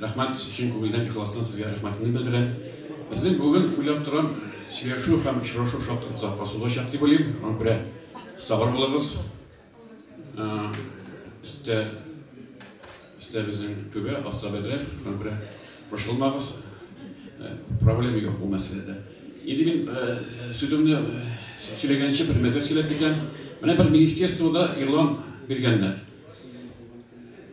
Рәхмәт, чын күңелдән ихластан сезгә рәхмәтемне белдерәм. Безнең бүген уйлап торам, сөйләшү һәм очрашу шактый озакка сузылачак дип уйлыйм. Шуңа күрә сабыр булыгыз. Өстә өстә безнең түбә, аста бәдрә. Шуңа күрә борчылмагыз. Проблема юк бу мәсьәләдә. Инде мин сүземне сөйләгәнче бер мәсьәлә сөйләп китәм. Менә бер министерствода игълан биргәннәр.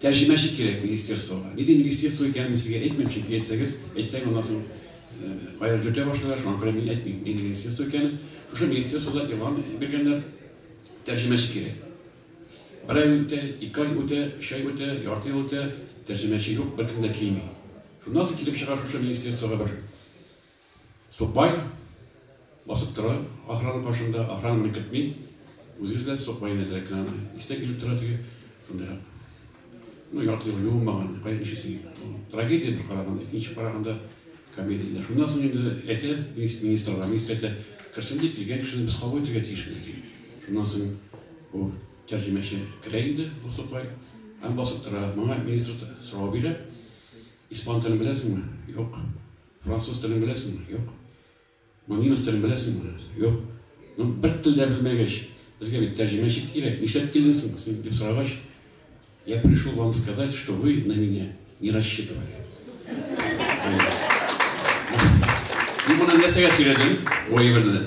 Тәрҗемәче кирәк министерствога. Ни дип министерство икәнен мин сезгә әйтмим, чөнки әйтсәгез, әйтсәң аннан соң э, кая җөртә башлыйлар, шуңа күрә мин әйтмим, нинди министерство икәнен. Шушы министерствода игълан биргәннәр, тәрҗемәче кирәк. Бер ай үтә, ике ай үтә, өч ай үтә, ярты ел үтә, тәрҗемәче юк, беркем дә килми. Шуннан соң килеп чыга шушы министерствога бер Сукбай басып тора охрана каршында, охрананы көтми, үзегез беләсез Сукбай нәзерәк кенә аны, исенә килеп тора теге шундыйрак. Ну, ярты ел юылмаган, кая ничесең. Трагедия бер караганда, икенче караганда комедия. Шуннан соң инде әйтә министрлар, министр әйтә, керсен дип килгән кешене без кабул итәргә тиешбез ди. Шуннан соң бу тәрҗемәче керә инде, бу Сукбай, һәм басып тора. Моңа министр сорау бирә, испан телен беләсеңме? Юк. Француз телен беләсеңме? Юк. Бу немец телен беләсеңме? Юк. Ну, бер тел дә белмәгәч, безгә бит тәрҗемәче кирәк. Нишләп килдең соң син дип сорагач, я пришел вам сказать, что вы на меня не рассчитывали. Мин моны нәрсәгә сөйләдем? Ой, ебәрде.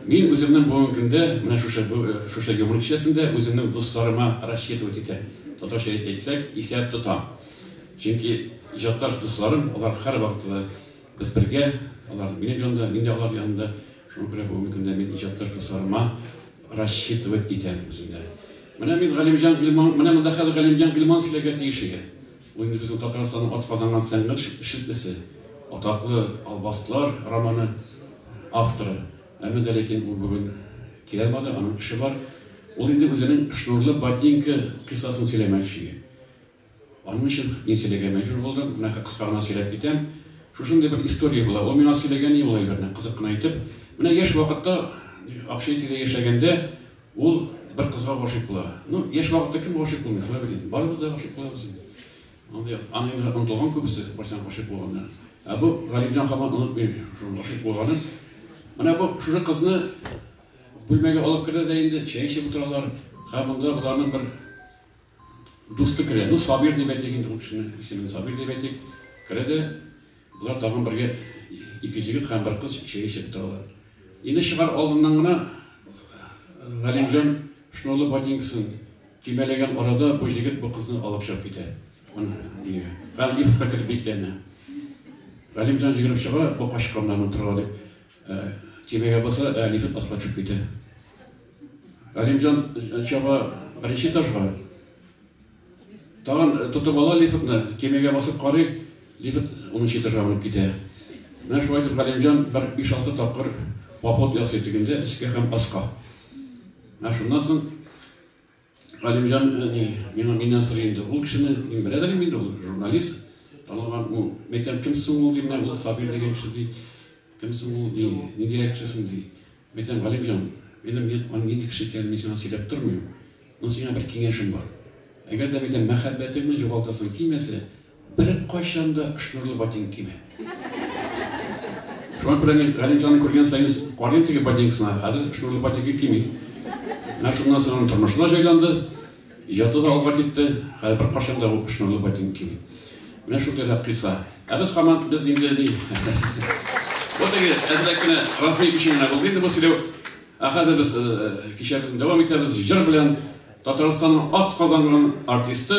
Мин үземнең бүгенге көндә, менә шушы э, шушы юмор кичәсендә үземнең дусларыма рассчитывать итә. Татарча әйтсәк, исәп тотам. Чөнки иҗатташ дусларым, алар һәрвакыт та без бергә, алар минем янымда, мин дә алар янында. Шуңа күрә бүгенге көндә мин иҗатташ дусларыма рассчитывать итәм үзем дә. Менә мин Галимҗан Гилман, менә монда хәзер Галимҗан Гилман сөйләргә тиеш иде. Ул инде безнең Татарстанның атказанган сәнгать эшлеклесе, атаклы Албастлар романы авторы. Әмма дә ләкин ул бүген килә алмады, аның эше бар. Ул инде үзенең Шнурлы ботинка кыйссасын сөйләмәкче иде. Аның өчен мин сөйләргә мәҗбүр булдым. Менә кыска гына сөйләп китәм. Шушындый бер история була. Ул миңа сөйләгән иде ул әйберне, кызык кына итеп. Менә яшь вакытта Акчаетида яшәгәндә ул бер кызга гашыйк була. Ну, яшь вакытта кем гашыйк булмый, шулай бит инде. Барыбыз да гашыйк булабыз инде. Андый аны инде онытылган күбесе, барчан гашыйк булганнар. Ә бу Галимҗан хаман онытмый шул гашыйк булганын. Менә бу шушы кызны бүлмәгә алып керә дә инде чәй эчеп утыралар. Һәм монда боларның бер Дусты керә. Ну, Сабир дип әйтик инде ул кешене. Исемен Сабир дип әйтик. Керә дә болар тагын бергә ике җегет һәм бер кыз чәй эчеп торалар. Инде чыгар алдыннан гына э, Галимҗан шнурлы ботинкасын төймәләгән арада бу җегет бу кызны алып чыгып китә. Аны нигә? Һәм лифтка кереп бикләнә. Галимҗан җигереп чыга, бу качканнан утыра дип. Э, төймәгә баса, ә лифт аска төшеп китә. Әлимҗан чаба беренче этажга. Тагын тотып ала лифтны, кемегә басып карый, лифт унынчы этажга менеп китә. Менә шулай итеп Галимҗан бер 5-6 тапкыр поход ясый тегендә өскә һәм аска. Ә шуннан соң Галимҗан әни миңа миннән сорый инде. Ул кешене мин белә дә инде ул журналист. Танылган ул. Мәйтәм, кем соң ул дим, ул Сабир дигән кеше ди. Кем соң ул ди, ниндирәк кеше соң ди. Мәйтәм, Галимҗан, минем мин аны нинди кеше икәнен мин сиңа сөйләп тормыйм. Мин сиңа бер киңәшем бар. Әгәр дә мәйтәм мәхәббәтеңне югалтасың килмәсә, Беркайчан да шнурлы ботинка киемә. Шуңа күрә мин Галимҗанны күргән саен карыйм теге ботинкасына, хәзер шнурлы ботинка кими. Менә шуннан соң аның тормышы да җайланды, иҗаты да алга китте, хәзер беркайчан да ул шнурлы ботинка кими. Менә шундый рәп кыйса. Ә без хаман без инде ни. Вот теге әзрәк кенә размер өчен генә булды инде бу сөйләү. Ә хәзер без кичәбезне дәвам итәбез җыр белән. Татарстанның атказанган артисты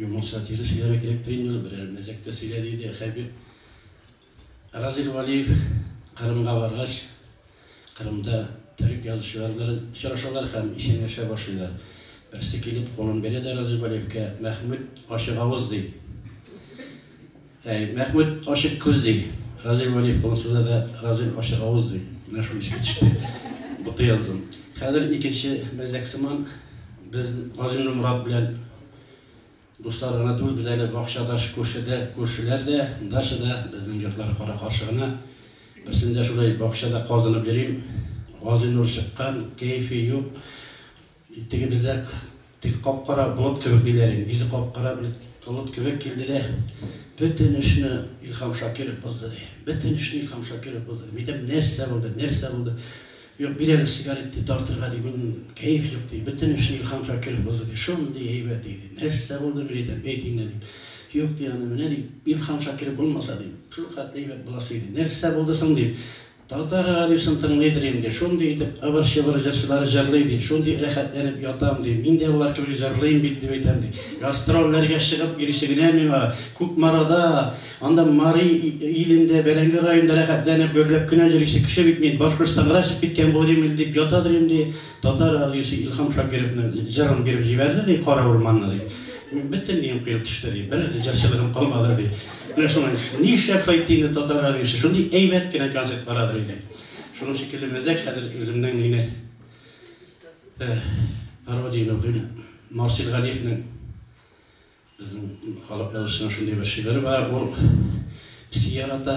Юмор сатиры сөйләргә кирәктер инде, берәр мәзәк тә сөйлә, диде Хәбир. Разил Валиев Кырымга баргач, Кырымда төрек язучылары белән очрашалар һәм исәнләшә башлыйлар. Берсе килеп, кулын бирә дә Разил Валиевкә, Мәхмүт ачык авыз, ди. Әй, Мәхмүт, ачык күз, ди. Разил Вәлиев кулын суза да, Разил, ачык авыз, ди. Менә шул искә төште. Бутый яздым. Хәзер икенче мәзәк сыман без Газимле Мурат белән дуслар гына түгел, без әле бакчадаш күршедә, күршеләр дә, дача да, безнең йортлар кара каршы гына. Берсендә шулай бакчада казынып йөрим. Газинур чыккан, кәефе юк. Теге бездә теге кап-кара болыт кебек диләр инде, йөзе кап-кара бер болыт кебек килде дә, бөтен эшне Илһам Шакиров бозды, ди. Бөтен эшне Илһам Шакиров бозды. Мин әйтәм, нәрсә булды, нәрсә булды? Юк, бир әле сигарет ди, тартырга ди, мин кәеф юк ди. Бөтен эшне Илһам Шакиров бозды, ди. Шундый әйбәт иде. Нәрсә булды, мин әйтәм, әйт инде, ди. Юк, ди, аны менә ди, Илһам Шакиров булмаса, ди, шулхәтле әйбәт буласы иде. Нәрсә булды соң, дим. Татар радиосын тыңлый торыйм, ди. Шундый итеп ыбыр-чыбыр җырчылар җырлый, ди. Шундый рәхәтләнеп ятам, ди. Мин дә алар кебек җырлыйм бит, дип әйтәм, ди. Гастрольләргә чыгып йөрүче генә миңа, Кукмарада, анда Мари илендә, Бәрәңге районында рәхәтләнеп гөрләп кенә йөрүче кеше бит мин. Башкортстанга да чыгып киткән булыр идем, дип ята торыйм, ди. Татар радиосы Илһам Шакировның җырын биреп җибәрде, ди, Кара урманны, ди. Бөтен өем коелып төште, ди. Бер җырчылыгым калмады, ди. Менә шуңа нишләп Файтине татар радиосы шундый әйбәт кенә концерт барадыр инде. Шуның шикелле мәзәк хәзер үземнең мине пародияне укыйм. Марсил Галиевнең безнең халык язучысының шундый бер шигыре бар, ул псиярата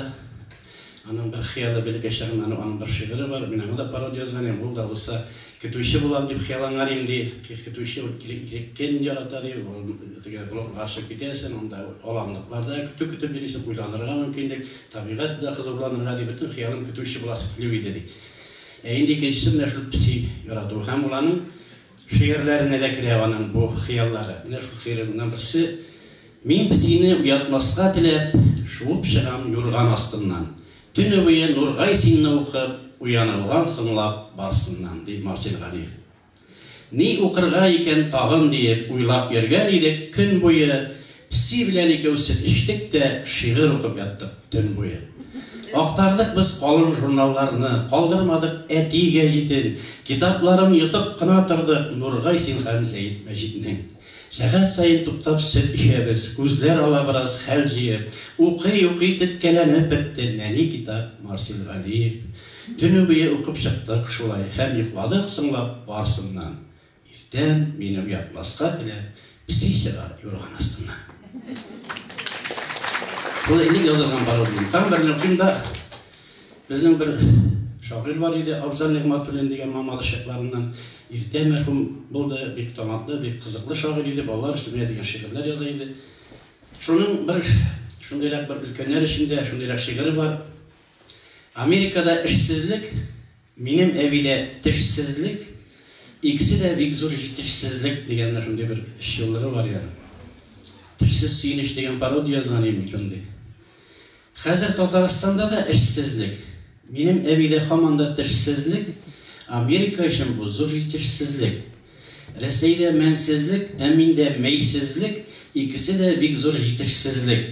Аның бер хыялы белгә чагында аның аның бер шигыре бар, мин аңа да пародия язган идем, ул да булса көтүче булам дип хыялланган идем ди, көтүче ул иркен ярата ди, ул теге болынга чыгып китәсең, анда аланлыкларда көтү көтеп йөрисең, уйланырга мөмкинлек, табигать белән хозурланырга ди, бөтен хыялым көтүче буласы килү иде ди. Ә инде икенчесе менә шул песи ярату һәм ул аның шигырьләренә дә керә аның бу хыяллары. Менә шул хыялларның берсе Мин песине уятмаска теләп, шуып чыгам юрган астыннан. Төне буе Нургай синны укып, уянылган соңлап барсыннан, ди Марсель Галиев. Ни укырга икән тагын диеп уйлап йөргән идек, көн буе песи белән икәү сөт эчтек тә, шигырь укып яттык төн буе. Актардык без калын журналларны, калдырмадык әти гәҗитен, китапларын йотып кына тордык Нургай син һәм Зәет Мәҗитнең. Сәгать саен туктап сөт эчәбез. Күзләр ала бераз хәл җыеп. Укый-укый теткәләнеп бетте. Нәни китап, Марсель Галиев. Төне буе укып чыктык шулай һәм йокладык соңлап барсыннан. Иртән, мине уятмаска теләп, песи чыга юрган астыннан. Шулай элек язылган пародия. Таң белән укыйм да. Безнең бер шагыйрь бар иде, Абзал Нигъматуллин дигән Мамадыш чакларыннан. Иртә мәрхүм булды, бик талантлы, бик кызыклы шагыйрь иде, балалар өчен менә дигән шигырьләр яза иде. Шуның бер шундыйрак бер өлкәннәр өчен дә шундыйрак шигыре бар. Америкада эшсезлек Минем әбидә тешсезлек, икесе дә бик зур җитешсезлек дигәнне шундый бер чуллыгы бар иде. Тешсез сөенеч дигән пародия язган идем шундый. Хәзер Татарстанда да эшсезлек. Минем әбидә һаман да тешсезлек, Америка өчен бу зур җитешсезлек. Рәсәйдә мәнсезлек, ә миндә мәйсезлек, икесе дә бик зур җитешсезлек.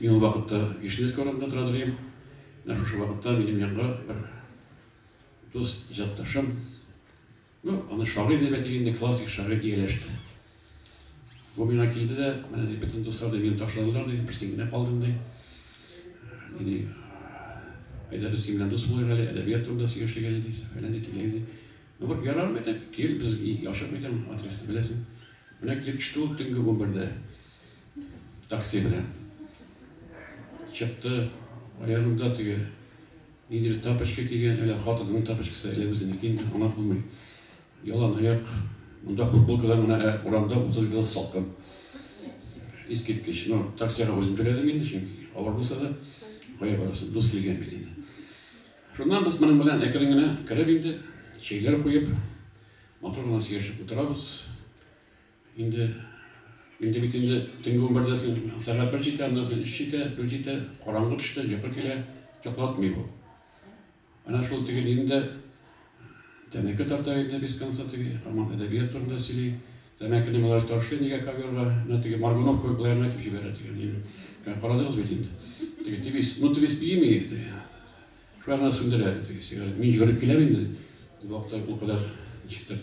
Мин ул вакытта Вишневский урамында тора дим. Менә шушы вакытта минем янга бер дус иҗатташым, ну, аны шагыйрь дип әйтик инде, классик шагыйрь ияләште. Бу миңа килде дә, менә ди, бөтен дуслар да мине ташладылар ди, бер син генә калдың ди. Ди, әйдә без синең белән дус булыйк әле, әдәбият турында сөйләшик әле ди, фәлән ди, тилән ди. Ну, бер ярар бит, кил, без яшәп бит, адресны беләсең. Менә килеп төште ул төнге 11-дә. Такси белән чыкты. Аягында теге нидер тапочка кигән, әле хатынының тапочкасы, әле үзенеке инде аңлап булмый. Ялан аяк. Монда футболкадан гына ә урамда 30 градус салкын. Искиткеч. Ну, таксига үзем түләдем инде, чөнки авыр булса да, кая барасың, дус килгән бит инде. Шуннан без моның белән әкрен генә кереп инде, чәйләр куеп, матур гына сөйләшеп утырабыз. Инде, инде бит инде төнге унбердә соң сәгать бер җитә, аннан соң өч җитә, дүрт җитә, караңгы төште, йокы килә, йоклатмый бу. Әнә шул теге нинди тәмәке тарта инде без конца теге, һаман әдәбият турында сөйли. Тәмәкене болай ташлый нигә ковёрга, әнә теге Маргунов кебек болай гына итеп җибәрә теге нин. Карадыгыз бит инде. Теге тевис, ну тевис пиими иде. Шулай гына сүндерә теге сигарет. Мин йөгереп киләм инде. Ул вакытта ул кадәр ничектер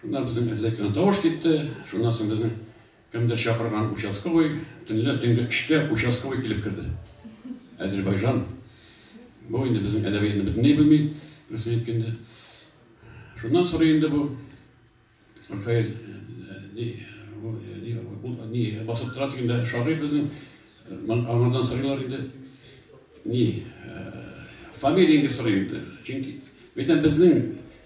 Шунда безнең әзрәккән тавыш китте. Шуннан соң безнең кемдер чакырган участковый, төнлә төнге өчтә участковый килеп керде. Әзербайжан. Бу инде безнең әдәбиятны бөтенләй белми, рәсми әйткәндә. Шуннан сорый инде бу Ркаэль не басып тора дигәндә шагыйрь безнең аңардан сорыйлар инде не фамилияң дип сорый инде. Чөнки бит безнең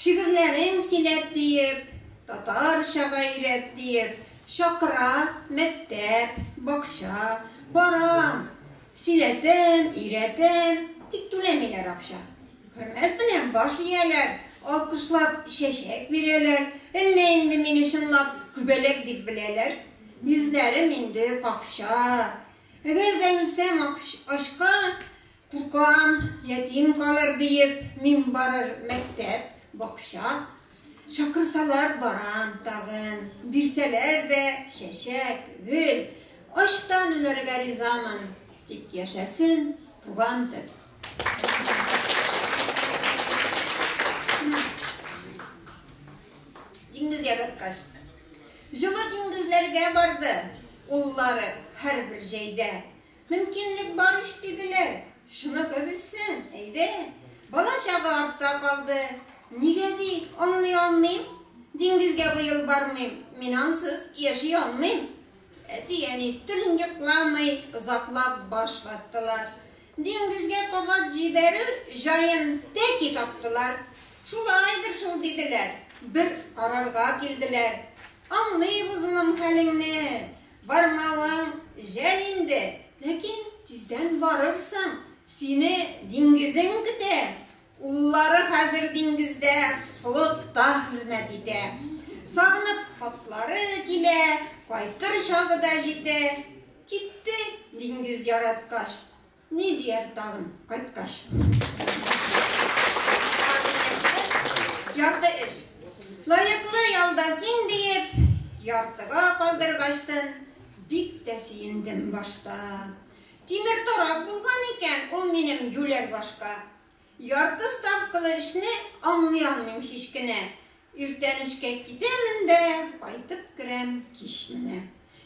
Шигырьләрең силәт диеп, татарча га өйрәт диеп, чакыра мәктәп, бакча, барам, силәтәм, өйрәтәм, тик түләмиләр акча. Хөрмәт белән баш ияләр, алкышлап чәчәк бирәләр, әллә инде мине чынлап күбәләк дип беләләр? Йөзләрем инде какча. Әгәр дә үлсәм ачка, Куркам, ятим калыр диеп, мин барыр мәктәп, бакча. Чакырсалар барам тагын, бирсәләр дә чәчәк, гөл. Ачтан үләргә ризамын, тик яшәсен туган тел. Диңгез яраткач. Җылы диңгезләргә барды, уллары һәрбер җәйдә. Мөмкинлек бар ич диделәр. Шуныкы бетсен, әйдә. Бала-чага артта калды. Нигә ди, аңлый алмыйм. Диңгезгә быел бармыйм. Мин ансыз яши алмыйм. Әти-әни төньякламый озаклап баш ваттылар. Диңгезгә кабат җибәрү җаен тәки таптылар. Шулайдыр шул диделәр. Бер карарга килделәр. Аңлыйбыз улым хәлеңне. Бармавың жәл инде, ләкин тиздән барырсың. Сине диңгезең көтә. Уллары хәзер диңгездә флотта хезмәт итә. Сагынып хатлары килә, кайтыр чагы да җитә. Китте диңгез яраткач. Ни дияр тагын кайткач? Ярты эш. Лаеклы ялда син диеп, яртыга калдыргачтын, бик тә сөендем башта. Тимер торак булган икән ул минем юләр башка. Ярты ставкалы эшне аңлый алмыйм һич кенә. Иртән эшкә китәмен дә, кайтып керәм кич менә.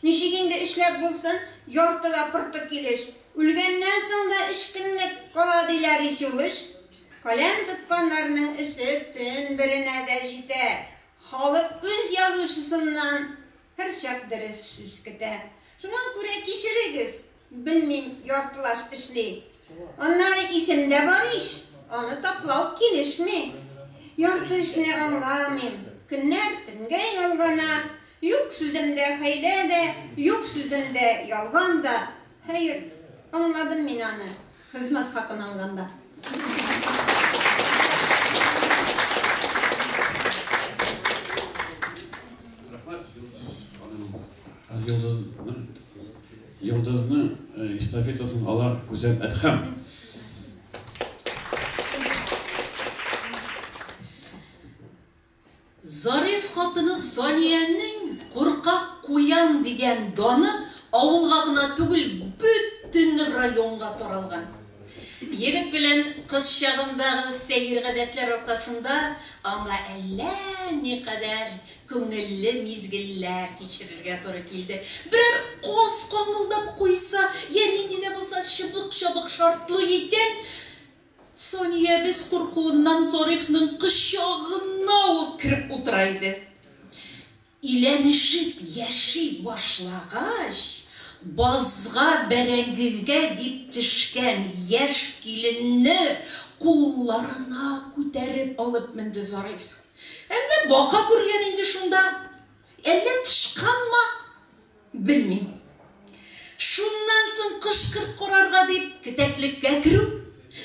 Ничек инде эшләп булсын, яртыда-пырты килеш. Үлгәннән соң да эчкенлек кала, диләр ич ул эш. Каләм тотканнарның эше төн беренә дә җитә. Халык үз язучысыннан Һәрчак дөрес сүз көтә. Шуңа күрә кичерегез, белмим, яртылаш эшли. Аннары исемдә бар ич, аны таплау килешми. Ярты эшне аңламыйм, көннәр төнгә ялгана, юк сүземдә хәйлә дә, юк сүземдә ялган да. Хәер, аңладым мин аны. Хезмәт хакын алганда. Йолдызны эстафетасын ала Гүзәл Әдхәм. Зариф хатыны Саниянең куркак куян дигән даны авылга гына түгел, бөтен районга таралган. Егет белән кыз чагындагы сәер гадәтләр аркасында аңа әллә никадәр күңелле мизгелләр кичерергә туры килде. Берәр каз каңгылдап куйса, йә нинди дә булса чыбык-чабык шартлый икән, Саниябез куркуыннан Зарифның кочагына ук кереп утыра иде. Иләнешеп яши башлагач, базга бәрәңгегә дип төшкән яшь киленне кулларына күтәреп алып менде Зариф. Әллә бака күргән инде шунда, әллә тычканмы? Белмим. Шуннан соң кышкырт корарга дип кетәклеккә керү,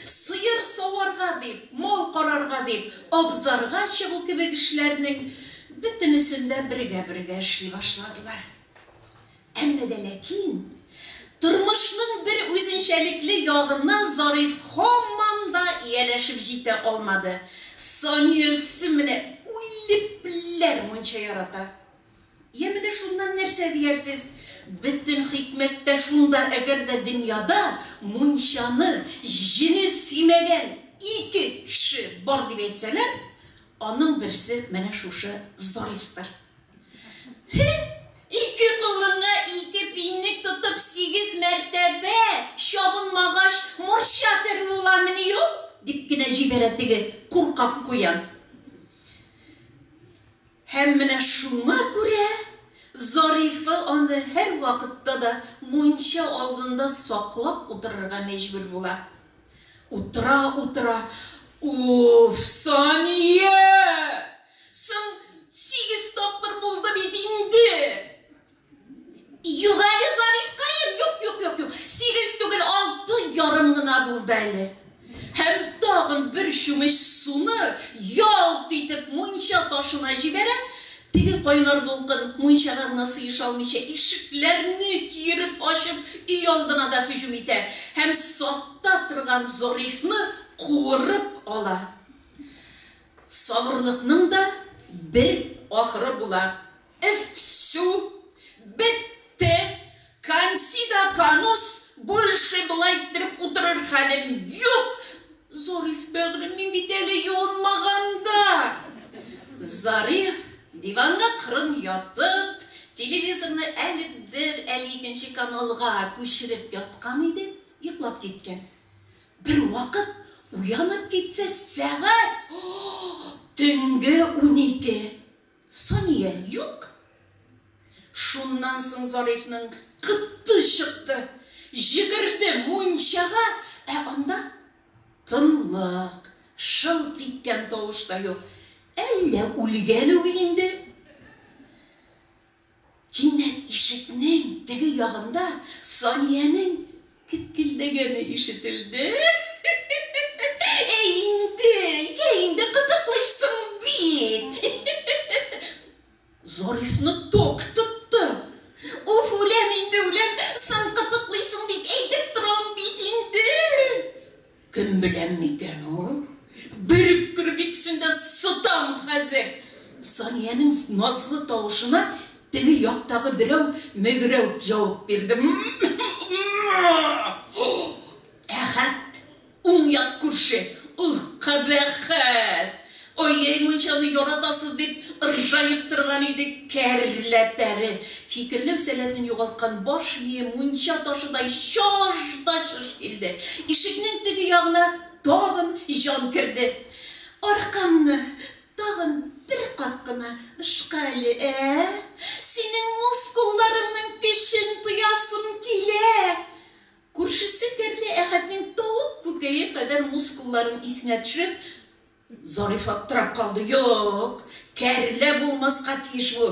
сыер саварга дип, мал карарга дип абзарга чыгу кебек эшләрнең бөтенесен дә бергә-бергә эшли башладылар. Әмма дә ләкин тормышның бер үзенчәлекле ягына Зариф һаман да ияләшеп җитә алмады. Саниясе менә үлепләр мунча ярата. Йә, менә шуннан нәрсә диярсез? Бөтен хикмәт тә шунда, әгәр дә дөньяда мунчаны, җене сөймәгән ике кеше бар дип әйтсәләр, аның берсе менә шушы Зарифтыр. Һе, ике колынга ике пинник тотып сигез мәртәбә чабынмагач, морча тер буламыни ул? дип кенә җибәрә теге куркак куян. Һәм менә шуңа күрә Зарифа аны һәрвакытта да мунча алдында саклап утырырга мәҗбүр була. Утыра-утыра, Уф, Сания! Соң сигез тапкыр булды бит инде! Юк әле, Зарифкаем, юк, юк, юк, юк. Сигез түгел, алты ярым гына булды әле. Һәм тагын бер чүмеч суны ялт итеп мунча ташына җибәрә. Теге кайнар дулкын мунчага гына сыеша алмыйча, ишекләрне киереп ачып, өй алдына да һөҗүм итә һәм сакта торган Зарифны куырып ала. Сабырлыкның да бер ахыры була. Эфсү, бетте, Кансида Канус больше болай иттереп утырыр хәлем юк! Зариф, бәгърем, мин бит әле юынмаган да! Зариф, диванга кырын ятып, телевизорны әле бер, әле икенче каналга күчереп яткан иде, йоклап киткән. Бервакыт уянып китсә, сәгать төнге унике. Сания, Юк! Шуннан соң Зарифның кытты чыкты. Җигерде мунчага, ә анда тынлык, шылт иткән тавыш та юк. Әллә үлгән үги инде? Кинәт ишекнең теге ягында Саниянең кеткелдәгәне ишетелде. Әй инде, йә инде кытыклыйсың бит. Зарифны ток тотты. Уф, үләм инде, үләм, сын кытыклыйсың дип әйтеп торам бит инде. Кем белән микән ул? Бер үткер бит син дә, сытан хәзер! Саниянең назлы тавышына теге яктагы берәү мөгрәүп җавап бирде. Әхәт, уң як күрше, ул кабәхәт! Ой-йй, мунчаны яратасыз, дип ыржаеп торган иде кәрләтәре. Фикерләү сәләтен югалткан баш мие мунча ташыдай чаж да чыж килде. Ишекнең теге ягына тагын җан керде. Аркамны тагын бер кат кына ышка әле, ә? Синең мускулларыңның көчен тоясым килә! Күршесе Кәрлә Әхәтнең тавык күкәе кадәр мускулларын исенә төшереп, Зариф аптырап калды. Юк, Кәрлә булмаска тиеш бу.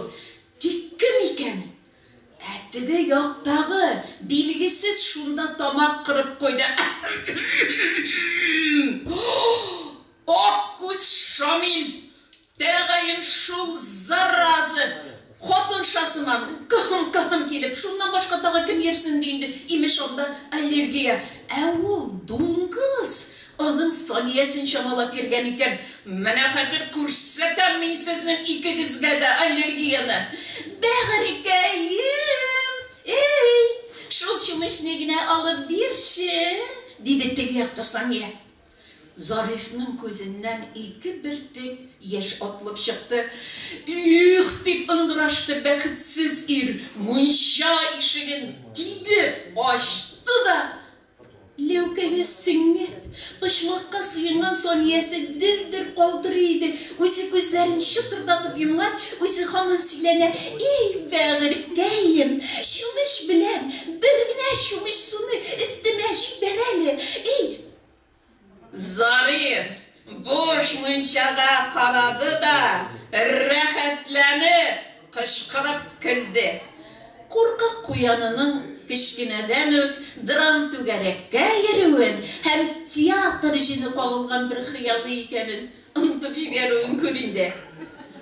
Тик кем икән? Ә теге яктагы, билгесез, шунда тамак кырып куйды. Әһем-м-м-м-м! Ак күз Шамил, тәгаен шул заразы, хатынша сыман, кыһым-кыһым килеп, шуннан башка тагы кем йөрсен ди инде, имеш, анда аллергия. Ә ул, дуңгыз, аның саниясен чамалап йөргән икән. Менә хәзер күрсәтәм мин сезнең икегезгә дә аллергияне! Бәгырькәем, әй, шул чүмечне генә алып бирче! диде теге якта Сания. Зарифның күзеннән ике бөртек яшь атылып чыкты. Их! дип ыңгырашты бәхетсез ир, мунча ишеген тибеп ачты да, ләүкәгә сеңеп, почмакка сыенган Саниясе дер-дер калтырый иде, үзе күзләрен чытырдатып йомган, үзе һаман сөйләнә, Ий, бәгырькәем, чүмеч белән бер генә чүмеч суны өстемә җибәр әле, ий, Зариф буш мунчага карады да, рәхәтләнеп кычкырып көлде. Куркак куянының кечкенәдән үк драм-түгәрәккә йөрүен һәм театр җене кагылган бер хыялы икәнен онытып җибәрүен күр инде.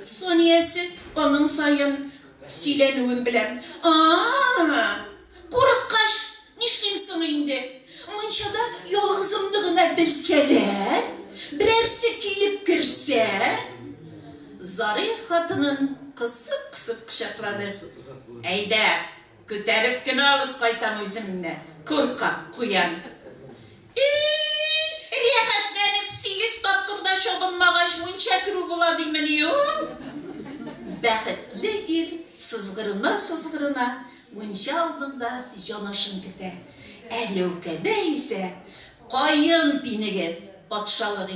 Саниясе аның саен сөйләнүен беләм. А-а-а! Курыккач, нишлим соң инде? Мунчада ялгызымны гына белсәләр, берәрсе килеп керсә? Зариф хатынын кысып-кысып кочаклады. Әйдә, күтәреп кенә алып кайтам үземне, куркак куян! И-и-и, рәхәтләнеп сигез тапкыр да чабынмагач, мунча керү була димени ул? Бәхетле ир сызгырына-сызгырына мунча алдында җанашын көтә. Әләүкәдә исә каен пинеге патшалык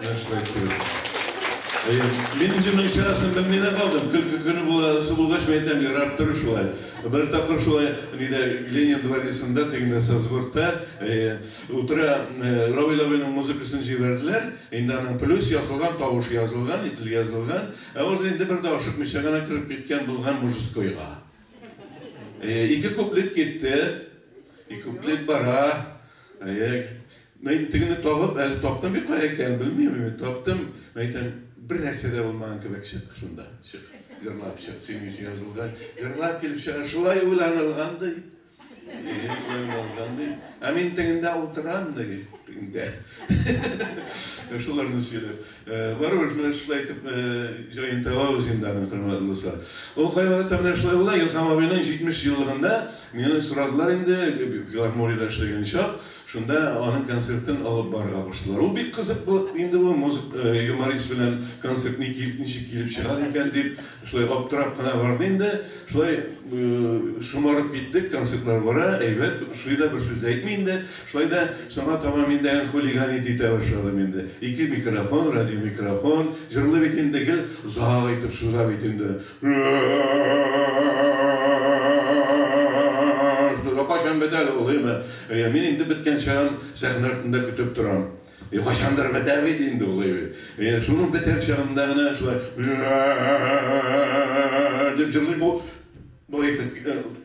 Менә шулай итегез. Әйе. Мин үземнең чарасын белми дә калдым. Көлке көне буласы булгач, мин әйтәм, ярар, тор шулай. Бер тапкыр шулай нидә Ленин дворецында, тегендә Сазгортта, әйе, утыра Равил абыйның музыкасын җибәрделәр. Инде аның плюс ясалган, тавышы язылган, ителге язылган. Ә узы инде бер дә ашыкмыйча гына кереп киткән булган мужескойга. Әйе, ике куплет китте. Ике куплет бара. Әйе. Мин тегене табып, әле таптым бит кая икәнен белмим мин, таптым. Мин әйтәм, бер нәрсә дә булмаган кебек чык шунда, чык, җырлап чык, синең өчен язылган, җырлап килеп чыга, шулай уйланылган ди. Шулай уйланылган ди. Ә мин тегендә утырам ди, тегендә. Шуларны сөйләп. Барыбер менә шулай итеп җаен табабыз инде аны, хөрмәтле дуслар. Ул кайвакытта менә шулай була, Илһам абыйның 70 еллыгында мине сорадылар инде, филармониядә эшләгән чак, шунда аның концертын алып барырга куштылар. Ул бик кызык булып инде бу юморист белән концерт ничек килеп чыгар икән дип. Шулай аптырап кына барды инде. Шулай шомарып киттек, концертлар бара, әйбәт, шуй да бер сүз дә әйтми инде. Шулай да соңга таба мин дә хулиган итә итә башладым инде. Ике микрофон, радиомикрофон. Җырлый бит инде, гел озак итеп суза бит инде. Кайчан бетәр ул, әйеме? Әйе, мин инде беткәнче сәхнә артында көтеп торам. И кайчандыр бетәр бит инде ул, әйбер. И шуның бетәр чагында гына шулай дип җырлый бу. Бу әйтеп,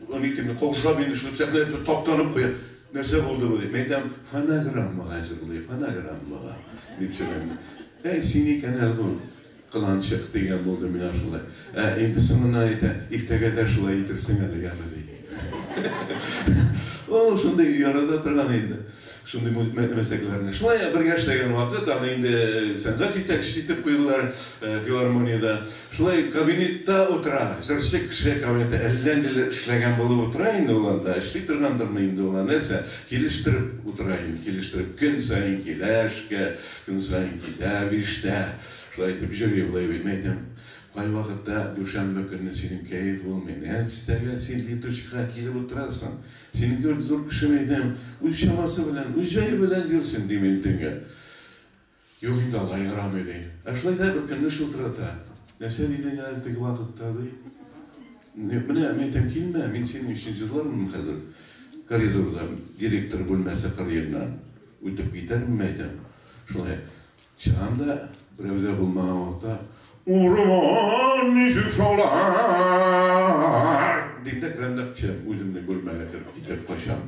аны әйтеп, каушап инде шул сәхнә итеп таптанып куя. Нәрсә булды бу дип. Мин әйтәм, фонограммага җырлый, фонограммага, дип сөйләнде. Әй, син икән әле бу. Кыланчык дигән булды миңа шулай. Ә инде соңыннан әйтә, иртәгә дә шулай әйтерсең әле, яме, ди. Ул шундый ярата торган инде шундый мәсьәләләрне. Шулай бергә эшләгән вакыт аны инде сәнгать җитәкчесе итеп куйдылар филармониядә. Шулай кабинетта утыра, җырчы кеше кабинетта әллә ниләр эшләгән булып утыра инде ул анда. Эшли торгандырмы инде ул, нәрсә, килештереп утыра инде, килештереп. Көн саен килә эшкә, Көн саен китә, биштә. Шулай итеп җыр юллый бит. Мин әйтәм, Кайвакытта дүшәмбе көнне синең кәеф булмый. Нәрсәгә син летучка килеп утырасың? Синең кебек зур кеше, мин әйтәм, үз чамасы белән, үз җае белән йөрсен, дим мин төнге. Юк инде, алай ярамый, ди. Ә шулай да бер көнне шылтырата. Нәрсә дидең әле теге вакытта, ди. Менә, мин әйтәм, килмә, мин синең өчен җырлармын хәзер коридорда, директор бүлмәсе кырыеннан. Үтеп китәрмен әйтәм. Шулай чыгам да, берәүдә булмаган вакытта, урман ничек шаулар! Дим дә керәм дә кичәм, үземне бүлмәгә кереп китеп качам.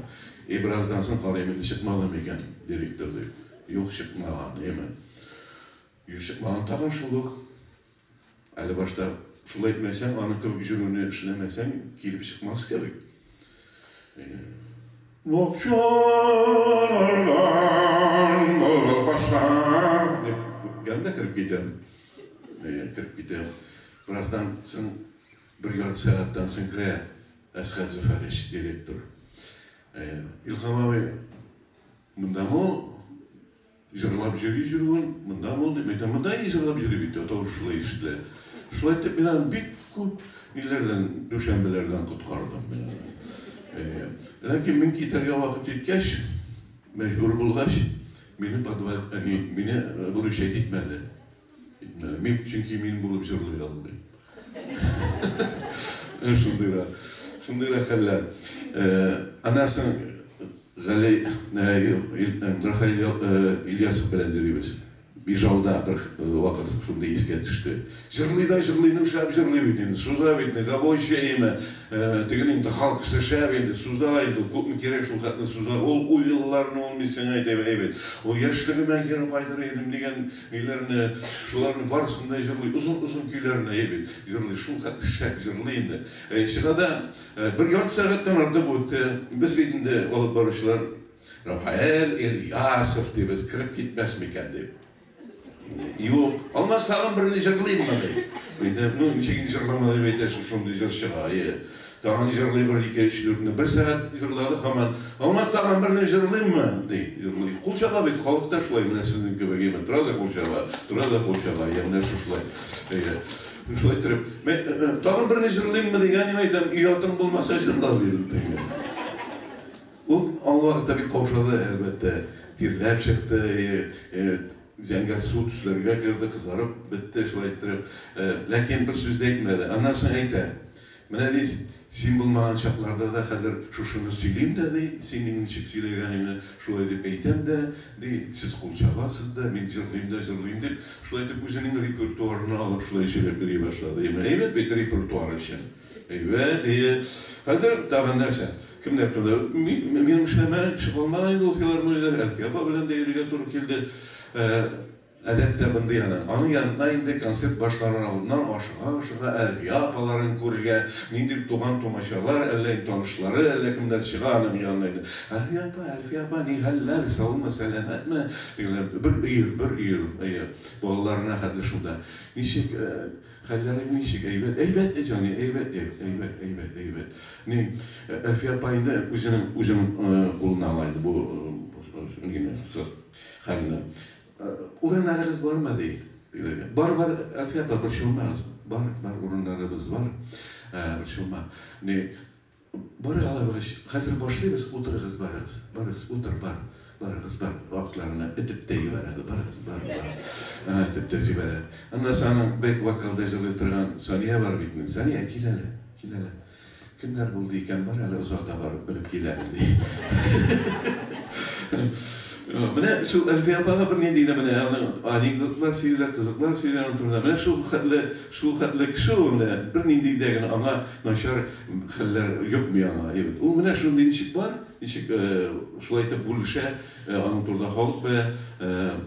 И бераздан соң карыйм, инде чыкмады микән директор дип. Юк, чыкмаган, яме. Юк, чыкмаган, тагын шул ук. Әле башта шул әйтмәсәң, аның кебек җөрүне эшләмәсәң, килеп чыкмас кебек. Бакчалардан былбыл кача, дип гәндә кереп китәм. Кереп китәм. Бераздан соң, бер ярты сәгатьтән соң керә Әсхәт Зөфәрович, директор. Илхам абый, монда мо? Җырлап йөри җөрүен монда булды бит, ә монда и җырлап йөри бит, ә тавышы шулай ишетелә. Шулай итеп мин аны бик күп ниләрдән, дүшәмбеләрдән коткардым мин аны. Э, ләкин мин китәргә вакыт җиткәч, мәҗбүр булгач, мине подвал, әни мине выручать итмәде. Мин, чөнки мин булып җырлый алмыйм. Шундый да, шундый да хәлләр. Аннан соң Гали Рафаэль Ильясов белән йөрибез. Ижауда бер вакыт шундый искә төште. Җырлый да җырлый, ну шәп җырлый бит инде. Суза бит, гавой чәеме, теге инде халк кеше шәп инде, суза инде, күпме кирәк шул хәтле суза. Ул уйларны ул мин сиңа әйтәм, әйбәт. Ул яшьлегемә кире кайтыр идем дигән Көйләрне, шуларның барысын да җырлый. Озын-озын көйләрне әйе бит, җырлый. Шул хәтле шәп җырлый инде. Әйе, чыга да. Бер ярты сәгатьтән артык үтте. Без бит инде, алып баручылар, Рафаэль Ильясов дибез, кереп китмәс микән дип. Юк, Алмаз тагын берне җырлыйммы ди. Инде, ну, ничек инде җырламады дип әйтәсең, шундый җыр чыга, әйе. Тагын җырлый бер ике-өч дүртне. Бер сәгать җырлады һаман. Алмаз, тагын берне җырлыйммы? ди. Җырлый. Кул чаба бит, халык та шулай, менә сезнең кебек имин. Тора да кул чаба, тора да кул чаба. Йә, менә шушылай. Әйе. Шулай торып, мен, тагын берне җырлыйммы дигән, мин әйтәм, өй атың булмаса җырла, дидем теге. Ул аңа вакытта бик каушады, әлбәттә. Тирләп чыкты, зәңгәр су төсләргә керде, кызарып бетте шулай иттереп. Ләкин бер сүз дә әйтмәде. Аннан соң әйтә. Менә ди, син булмаган чакларда да хәзер шушыны сөйлим дә, ди, син минем ничек сөйләгәнеңне шулай дип әйтәм дә, ди, сез кул чабасыз да, мин җырлыйм да җырлыйм, дип, шулай итеп үзенең репертуарына алып шулай сөйләп йөри башлады. Яме әйбәт бит репертуар өчен. Әйбәт, әйе. Хәзер тагын нәрсә? Кемнәр турында? Мин, минем эшләмәгән кеше калмаган инде ул филармониядә, Әлфия апа белән дә йөрергә туры килде. Ә, Гадәттә мондый ана. Аның янына инде концерт башланыр алдыннан ашыга-ашыга Әлфия апаларын күрергә, ниндидер туган-тумачалар, әллә инде танышлары, әллә кемнәр чыга аның янына инде. Әлфия апа, Әлфия апа, ни хәлләр, саумы, сәламәтме? дигәләр. Бер өер, бер өер, әйе, балаларына хәтле шунда. Ничек, хәлләрең ничек, әйбәт? Әйбәт, җаный, әйбәт, әйбәт, әйбәт, әйбәт, әйбәт. Ни, Әлфия апа инде үзенең, үзенең кулына ала инде бу, нене, Хәлне. Урыннарыгыз бармы? ди тегеләргә. Бар, бар, Әлфия апа, борчылмагыз. Бар, бар, урыннарыбыз бар. Борчылма. Ни, барыгыз алабыгыз, хәзер башлыйбыз, утырыгыз барыгыз. Барыгыз, утыр, бар. Барыгыз, бар. Атларны этеп тә җибәрәгез, барыгыз, бар, бар. Әһә, этеп тә җибәрә. Аннан соң аның бэк-вокалда җырлый торган Сания бар бит инде. Сания, кил әле, кил әле. Кемнәр булды икән, бар әле озата барып белеп кил әле, ди. Менә шул Әлфия апага бер нинди генә менә аның анекдотлар сөйлә, кызыклар сөйлә аның турында. Менә шул хәтле, шул хәтле кеше ул менә, бер нинди дә генә аңа начар хәлләр йокмый аңа. Ул менә шундый ничек бар, ничек шулай итеп бүлешә, Аның турында халык белә.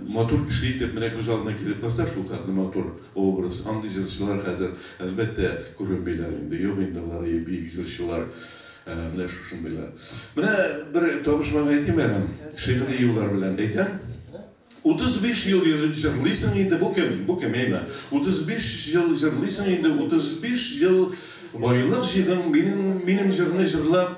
Матур кеше итеп менә күз алдына килеп торса, шулкадәр матур образ. Андый җырчылар хәзер, әлбәттә, күренмиләр инде. Юк инде алар, и бөек җырчылар. Менә шушындыйлар. Менә бер табышмак әйтим әле, шигъри юллар белән әйтәм. 35 ел җырлыйсың инде, бу кем? Бу кем, әйме? 35 ел җырлыйсың инде, 35 ел байлык җыйдың, минем, минем җырны җырлап,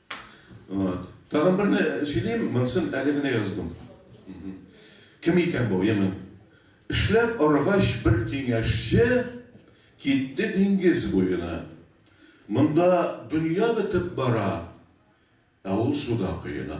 Вот. Тагын берне сөйлим, монсын әле генә яздым. Кем икән бу, яме? Эшләп арыгач бер киңәшче китте диңгез буена. Монда дөнья бетеп бара, ә ул суда коена.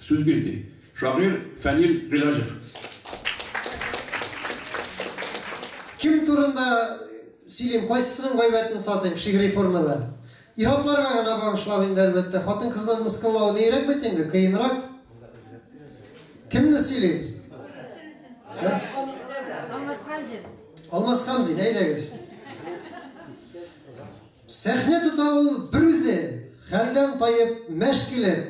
Сүз бирде шагыйрь Фәнил Гыйләҗев. Кем турында сөйлим, кайсысының гайбәтен сатыйм, шигъри формада. Ир-атларга гына багышлап инде, әлбәттә. Хатын-кызны мыскыллау нирәк бит инде, кыенрак. Кемне сөйлим? Алмаз Хамзин. Алмаз Хамзин, әйдәгез. Сәхнә тота ул берүзе, хәлдән таеп, мәш килеп.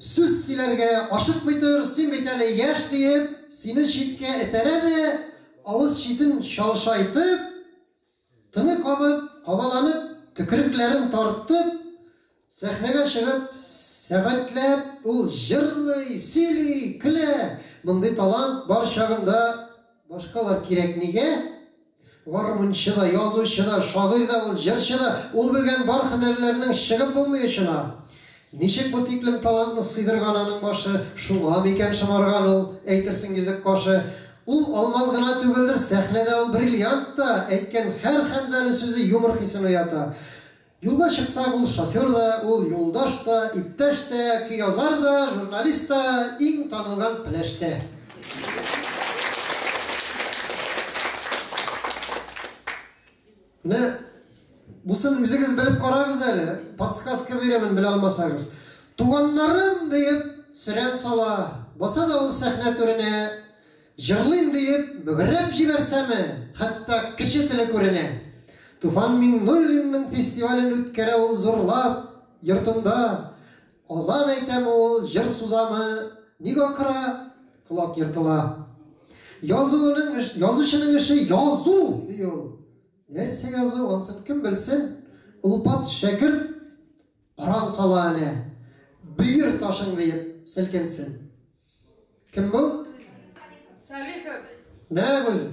Сүз сөйләргә ашыкмый тор, син бит әле яшь, диеп, сине читкә этәрә дә, авыз читен чалшайтып, тыны кабып, кабаланып, төкерекләрен тартып, сәхнәгә чыгып, сәгатьләп ул җырлый, сөйли, көлә. Мондый талант бар чагында башкалар кирәкмигә. Гармунчы да, язучы да, шагыйрь дә ул, җырчы да, ул белгән бар һөнәрләрнең чыгып булмый очына. Ничек бу тиклем талантны сыйдырган аның башы, шуңа микән шомарган ул, әйтерсең йөзек кашы. Ул алмаз гына түгелдер, сәхнәдә ул бриллиант та, әйткән һәр Хәмзәле сүзе юмор хисен уята. Юлга чыксаң, ул шофер да, ул юлдаш та, иптәш тә, көязар да, журналист та, иң танылган пеләш тә. Менә бусын үзегез белеп карагыз әле, подсказка бирәмен белә алмасагыз. Туганнарым диеп сөрән сала, баса да ул сәхнә түренә, Җырлыйм диеп, мөгрәп җибәрсәме, хәтта кеше теле күренә. Туфан Миңнуллинның фестивален үткәрә ул зурлап, йортында. Азан әйтәме ул, җыр сузамы, ник акыра, колак ертыла. Язуының, язучының эше язу, ди ул. Нәрсә язу, ансын кем белсен? Олпат шәкерт Коран сала әнә, бөер ташың диеп селкенсен. Кем бу? Салихов. Нәкъ үзе.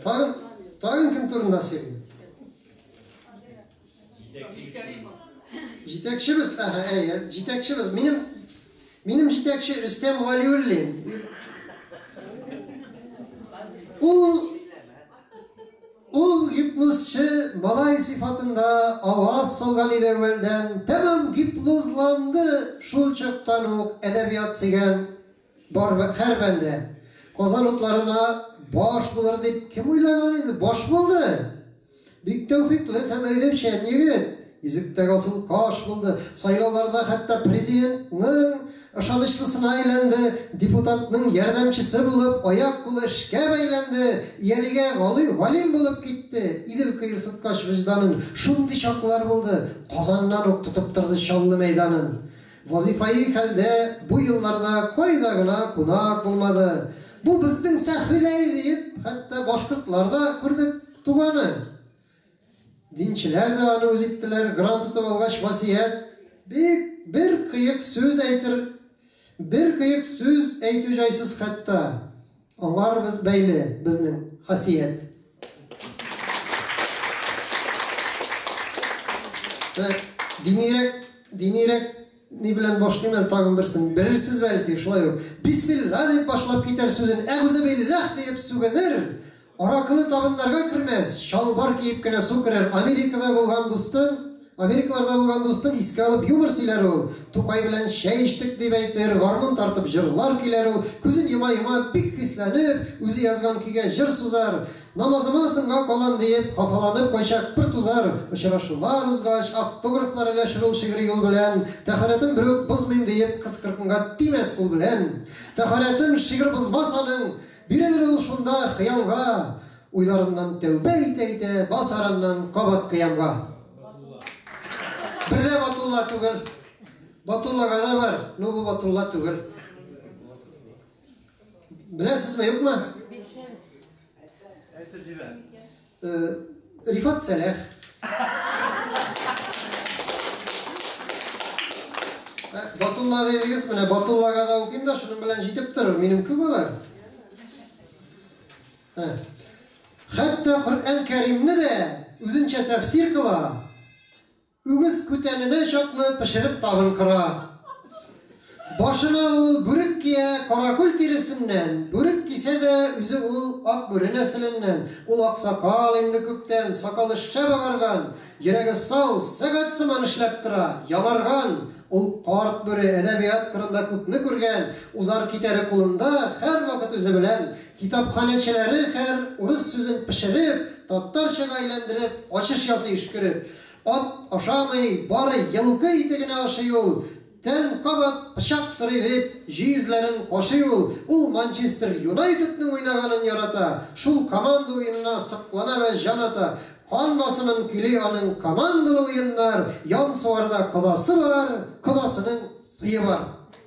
Тагын, тагын кем турында сөйлим? Җитәкчебез, әһә, әйе, җитәкчебез. Минем минем җитәкче Рөстәм Валиуллин. Ул Ул гипнозчы малай сыйфатында аваз салган иде әүвәлдән, тәмам гипнозланды Шул чактан ук әдәбият сөйгән бар һәр бәндә Казан утларына баш булыр дип кем уйлаган иде? Баш булды! Бик тәүфыйклы һәм әйдәүчән егет! Йөзектәге асыл каш булды. Сайлауларда хәтта президентның ышанычлысына әйләнде, депутатның ярдәмчесе булып, аяк-кулы эшкә бәйләнде, иялигә галый галим булып китте. Идел кыерсыткач вөҗданын шундый чаклар булды, Казаннан ук тотып торды Чаллы мәйданын. Вазыйфаи хәлдә бу елларда кайда гына кунак булмады. Бу безнең Сәхвиләй! диеп, хәтта башкортлар да күрдек туганы. Динчеләр дә аны үз иттеләр. Грант тотып алгач, васыять бик бер кыек сүз әйтер, бер кыек сүз әйтү җайсыз хәтта. Аңар без бәйле безнең хасият. Динирәк, динирәк ни белән башлыйм әле тагын берсен. Белерсез бәлки, шулай ук. Бисмилла дип башлап китәр сүзен, әгүзебиллах дип сүгенер. Аракыны табыннарга кермәс, чалбар киеп кенә су керер, Америкада булган дустын, Америкаларда булган дустын искә алып юмор сөйләр ул, Тукай белән чәй эчтек дип әйтер, гармун тартып җырлар киләр ул, күзен йома-йома, бик хисләнеп, үзе язган көйгә җыр сузар, Намазыма соңга калам диеп, хафаланып кайчак бер тузар, Очрашулар узгач, автографлар өләшер ул шигъри юл белән, Тәһарәтен берүк бозмыйм диеп, кыз кыркынга тимәс кул белән, Тәһарәтен шигырь бозмас аның, Бирелер ул шунда хыялга, Уйларыннан тәүбә итә-итә, Бас араннан кабат кыямга. Бер дә Батулла түгел. Батуллага да бар, но бу Батулла түгел. Беләсезме, юкмы? Әйтсәгез. Әйтсәгез. Рифат Сәләх. Батулла дедегез, менә Батуллага да укыйм да, шуның белән җитеп торыр. Минем күп алар. Хәтта Коръән Кәримне дә үзенчә тәфсир кыла. Үгез күтәненә чаклы пешереп табын кора. Башына ул бүрек кия, каракүл тиресеннән, бүрек кисә дә, үзе ул ак бүре нәселеннән. Ул аксакал инде күптән, сакалы шәп агарган, йөрәге сау, сәгать сыман эшләп тора, янарган. Ул карт бүре, әдәбият кырында күпне күргән, узар-китәре кулында, һәрвакыт үзе белән. Китапханәчеләре һәр урыс сүзен пешереп, татарчага әйләндереп, ачыш ясый өшкереп. Ат ашамый, бары елкы ите генә ашый ул. Тән кабат пычак сорый, дип, җиезләрен кашый ул. Ул Манчестер Юнайтедның уйнаганын ярата, шул команда уенына соклана вә җан ата. Кан басымын көйли аның командалы уеннар, ян сугарда кодасы бар, кодасының сые бар.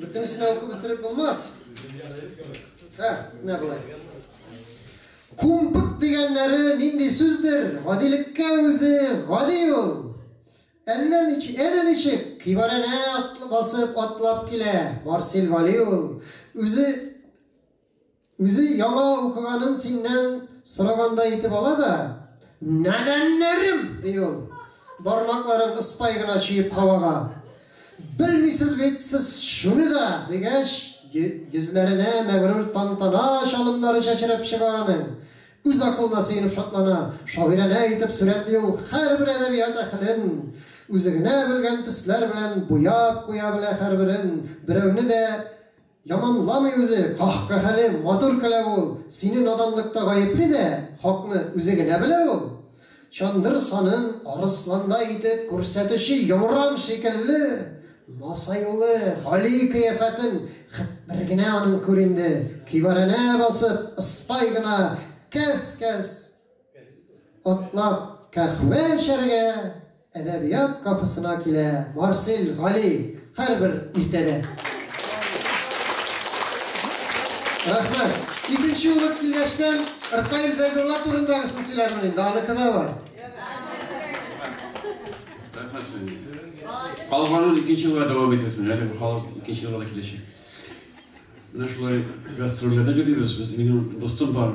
Бөтенесен дә укып бетереп булмас. Ә, менә болай. Кумпык дигәннәре нинди сүздер? Гадилеккә үзе гади ул. Әллә ничек, әллә ничек кибарәнә атлы басып атлап килә. Марсел Вали ул. Үзе Үзе яңа укыганын синнән сорагандай итеп ала да, Нәдәннәрем! ди ул, бармакларын ыспай гына чөеп һавага. Белмисез бит сез шуны да, дигәч, йөзләренә мәгърур тантана чалымнары чәчрәп чыга аның. Үз акылына сөенеп шатлана, шагыйрәнә итеп сурәтли ул һәрбер әдәбият әһелен. Үзе генә белгән төсләр белән буяп куя белә һәрберен. Берәүне дә Яманламый үзе, каһкаһәле, матур көлә ул, сине наданлыкта гаепли дә, хакны үзе генә белә ул. Чандыр санын арысландай итеп күрсәтүче йомран шикелле, масаюлы, гали кыяфәтен хет бер генә аның күр инде, кибарәнә басып, ыспай гына, кәс-кәс! Атлап каһвә эчәргә әдәбият кафесына килә Марсель Гали һәрбер иртәдә. Рәхмәт. Икенче булып килгәчтән Ркаил Зәйдулла турындагысын сөйләрмен инде, аныкы да бар. Калганын икенче елга дәвам итәсен, әле халык икенче елга да киләчәк. Менә шулай гастрольләрдә йөрибез без. Минем дустым бар,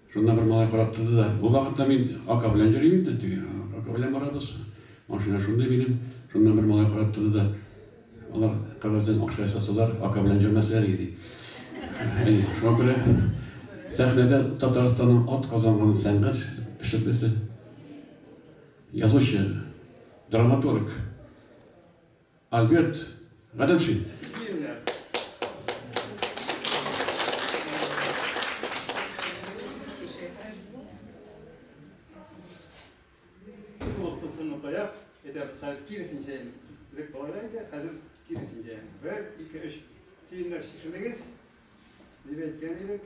Шунда бер малай карап торды да, Бу вакытта мин ака белән йөрим инде, теге ака белән барабыз. Машина шундый минем. Шунда бер малай карап торды да, Алар кәгазьдән акча ясасалар, ака белән йөрмәсләр иде. Әйе, шуңа күрә сәхнәдә Татарстанның ат казанган сәнгать эшлеклесе, язучы, драматург, Альберт Гаделшин. Сынны таяп, әйтәбез, хәзер киресенчә элек балага иде, хәзер киресенчә. Бер, ике, өч киемнәр шешелегез, дип әйткән идек.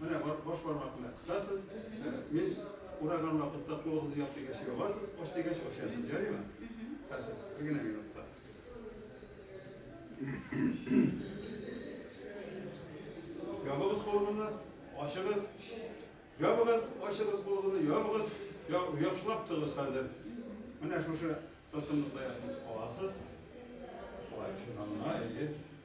Менә баш бармак белән кысасыз, мин ураган вакытта кулыгызны яп дигәч ябасыз, ач дигәч ачасыз, ярыймы? Хәзер бер генә минутта. Ябыгыз кулыгызны, ачыгыз. Ябыгыз, ачыгыз кулыгызны, ябыгыз. Яхшылап тыгыз хәзер. Менә шушы тылсымлыкта яшәп аласыз. Алай шуннан гына әйе.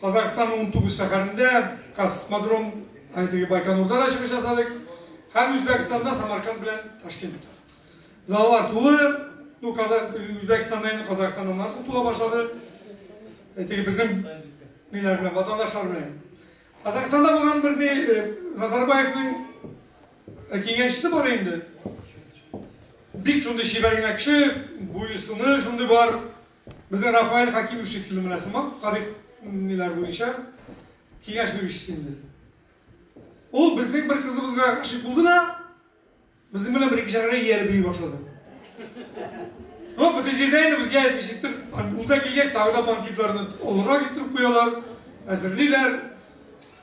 Казахстанның унтугыз шәһәрендә космодром, ә теге Байконурда да чыгыш ясадык. Һәм Үзбәкстанда Самарканд белән Ташкентта. Заллар тулы. Ну, Казах, Үзбәкстанда инде Казахстаннан нәрсә тула башлады. Ә теге безнең ниләр белән, ватандашлар белән. Казахстанда булган бер ни э, Назарбаевның э, киңәшчесе бар инде. Бик шундый чибәргенә кеше, буесыны шундый бар. Безнең Рафаэль Хәкимов шикелле менә сыман тарих ниләр буенча киңәш бирүчесе инде. Ул безнең бер кызыбызга гашыйк булды да, безнең белән бер икешәргә ияреп йөри башлады. Ну, бөтен җирдә инде безгә әйтмешектер, ул да килгәч, тагы да банкетларны олырак иттереп куялар, әзерлиләр.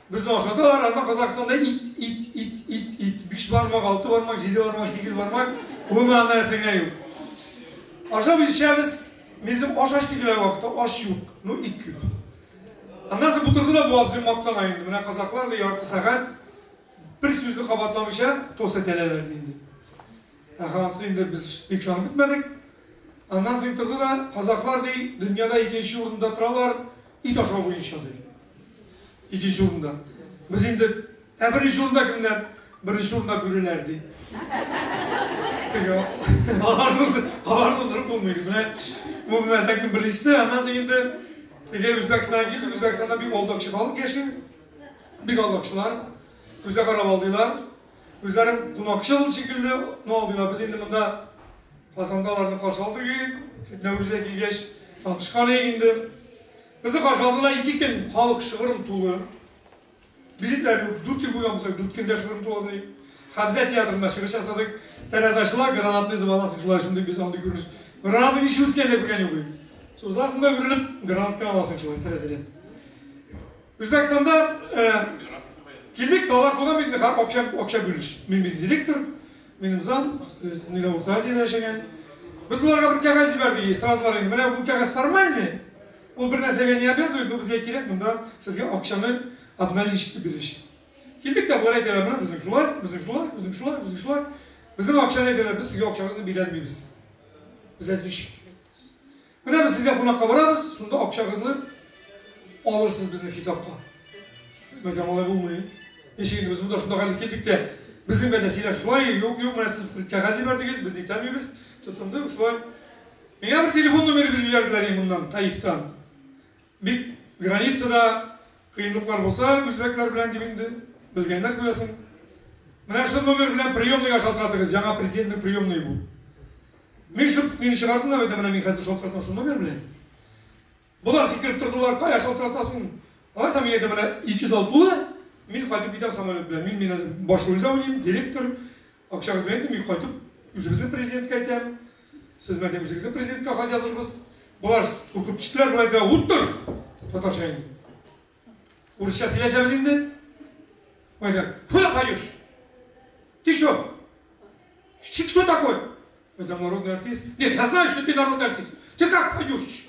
Без ашады арада Казахстанда ит, ит, ит, ит, ит. Биш бармак, алты бармак, җиде бармак, сигез бармак. Бунан нәрсәгә юк. Ашап ишәбез, безнең аш ач дигән вакытта аш юк. Ну, ит күп. Аннан соң бутырды да бу абзый мактана инде. Менә казаклар да ярты сәгать бер сүзне кабатламыйча тос итәләр инде. Ахансы инде без бик шанып бетмәдек. Аннан соң торды да казаклар ди, дөньяда икенче урында торалар. ит ашау буенча ди. Икенче урында. Без инде ә беренче урында кемнәр? Беренче урында бүреләр ди. Теге аларны уздырып булмый. Менә бу мәзәкнең беренчесе, аннан соң инде теге Үзбәкстанга килдек, Үзбәкстанда бик алдакчы халык яши. Бик алдакчылар. Күзгә карап алдыйлар. Үзләрен кунакчыл шикелле атна алдыйлар. Без инде монда Казанда аларны каршы алдык ик, Нәүрүзгә килгәч, танышкан ик инде. Безне каршы алдылар ике көн, халык шыгырым тулы. Билетлар юк, дүрт ел булган булса, дүрт көндә шыгырым туладыр ик. Хәмзә театрында чыгыш ясадык. Тәрәзәчылар гранатный звонасы шулай шундый без андый күреш. Гранатный ничек үскән дә күргән юк ик. Сузасың да үрелеп, гранат кына аласың шулай тәрәзәдән. Үзбәкстанда килдек, салар куна бит, ха, акча, акча бүлеш. Мин бит директор, минем зам, нилә Урта Азиядә яшәгән. Без буларга бер кәгазь җибәрдек, эстрадлар инде. Менә бу кәгазь формальный. Ул бер нәрсәгә не обязывает, но безгә кирәк, монда сезгә акчаны обналичить биреш. Килдек тә болар әйтәләр, менә безнең шулай, безнең шулай, безнең шулай, безнең шулай. Безнең акчаны әйтәләр, без сезгә акчагызны бирәлмибез. Без әйтмичек. Менә без сезгә кунакка барабыз, шунда акчагызны алырсыз безнең хисапка. Мәгәр алай булмый. Ничек инде без монда шунда гәлеп килдек тә, безнең белән сөйләш шулай, юк, юк, менә сез кәгазь җибәрдегез, без нитәмибез, тотынды шулай. Миңа бер телефон номеры биреп җибәрделәр моннан, Таифтан. Бит границада кыенлыклар булса үзбәкләр белән дип инде, белгәннәр күрәсең. Менә шул номер белән приемныйга шалтыратыгыз, яңа президентның приемные бу. Мин шул мине чыгардылар бит, менә мин хәзер шалтыратам шул номер белән. Болар сикереп тордылар, кая шалтыратасың? Алайса мин әйтәм, менә 206-лы, мин кайтып китәм самолет белән. Мин, мин баш рульдә уйныйм, директор, Акчагызны әйтим, мин кайтып үзебезнең президентка әйтәм. Сез мәдә үзегезнең президентка хат язырбыз. Болар куркып төштеләр, болай да уттыр. Татарча инде. Урысча сөйләшәбез инде. Майдан, куда пойдешь? Ты что? Ты кто такой? Это народный артист. Нет, я знаю, что ты народный артист. Ты как пойдешь?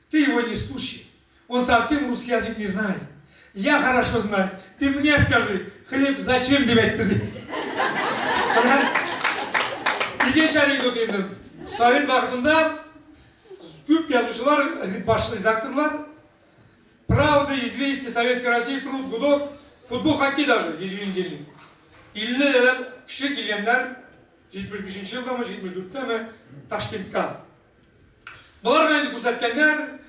Ты его не слушай. Он совсем русский язык не знает. Я хорошо знаю. Ты мне скажи, хлеб зачем деп әйтте ди. Икенче анекдот инде. Совет вакытында күп язучылар, баш редакторлар Правда, известия Советской России, труд, гудок, футбол, хоккей даже, еженедельный. 50 лет кеше килгәннәр 75 елдамы, 74 тәме Ташкентка. Боларга инде күрсәткәннәр,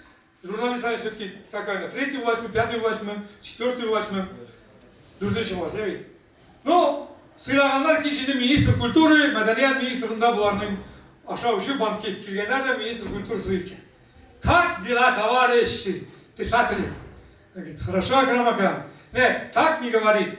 журналист они все-таки какая-то третья власть, пятая власть, четвертая власть, дүртенче власть, ә бит. Ну, сыйлаганнар кич инде министр культуры, мәдәният министрында боларның ашау өчен банкет килгәннәр дә министр культуры сый икән. Как дела, товарищи, писатели? Говорит, хорошо, Акрамака. Нет, так не говорит.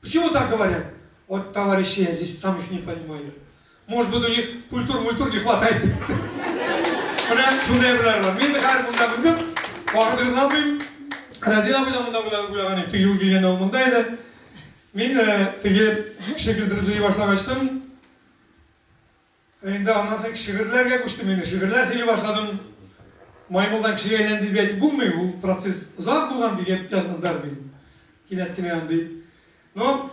Почему так говорят? Вот товарищи, я здесь сам их не понимаю. Может быть, у них культур-мультур не хватает. Менә шундай беләр бар. Мин хәзер монда белдем. Вакытыгызны алмыйм. Разил абый да монда белән уйлаган иде. Теге килгәндә ул монда иде. Мин э, теге шикелдереп җый башлагачтын, Ә инде аннан соң шигырьләргә күчтем инде, шигырьләр сөйли башладым. Маймылдан кешегә әйләнде дип әйтеп булмый, ул процесс озак булган дигән язган бер мин. Кинәт кенә андый. Но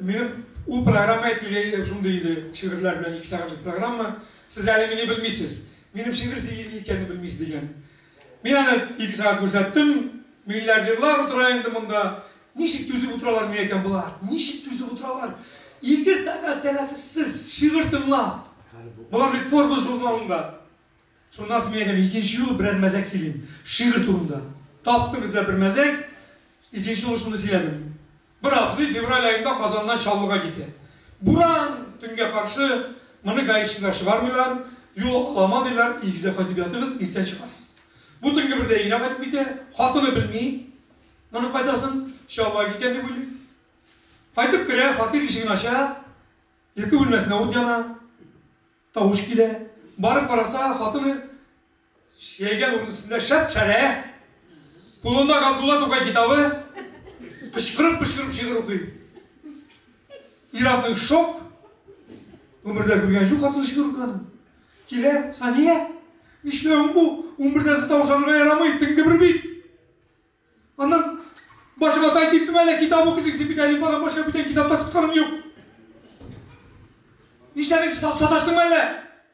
минем ул программа әйтелгәй шундый иде, шигырьләр белән ике сәгатьлек программа. Сез әле мине белмисез. Минем шигырь сөйли икәнне белмисез дигән. Мин аны икесенә күрсәттем. Миллиардерлар утыра инде монда. Ничек түзеп утыралар микән икән болар? Ничек түзеп утыралар? Ике сәгать тәнәфессез шигырь тыңлап. Болар бит Forbes журналында. Шуннан соң мин әйтәм, икенче юлы берәр мәзәк сөйлим. Шигырь турында. Таптым эзләп бер мәзәк. Икенче юлы шуны сөйләдем. Бер абзый февраль аенда Казаннан Чаллыга китә. Буран, төнгә каршы, моны гаишнилар чыгармыйлар, юл алама диләр, игезә кайтып ятыгыз, иртән чыгарсыз. Бу төнге бердә өенә кайтып китә, хатыны белми, моны кайтасын, Чаллыга киткән дип уйлый. Кайтып керә, фатир ишеген ача, йоки бүлмәсенә ут яна, тавыш килә. Барып караса, хатыны Чиялгән урын өстендә шәп-шәрә, кулында Габдулла Тукай китабы, кычкырып-кычкырып шигырь укый. Ир-атның шок, гомердә күргән җу хатыны шигырь укыган. Килә, Сания, нишләвең бу? Унбердәсе тавышанырга ярамый, теңде бер бит. Аннан башы ватай дип түмәлә китап укыйсың, син бит әлифбадан башка бүтән китапта тотканың юк. Нишләдең, саташтыңмы әллә?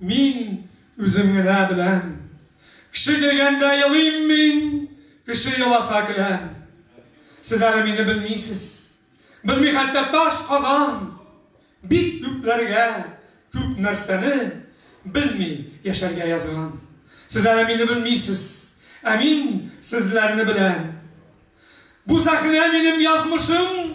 Мин үзем генә беләм. Кеше көлгәндә елыйм мин, кеше еласа көләм. Сез әле мине белмисез. Белми хәтта таш казан. Бик күпләргә күп нәрсәне белми яшәргә язган. Сез әле мине белмисез. Ә мин сезләрне беләм. Бу сәхнә минем язмышым.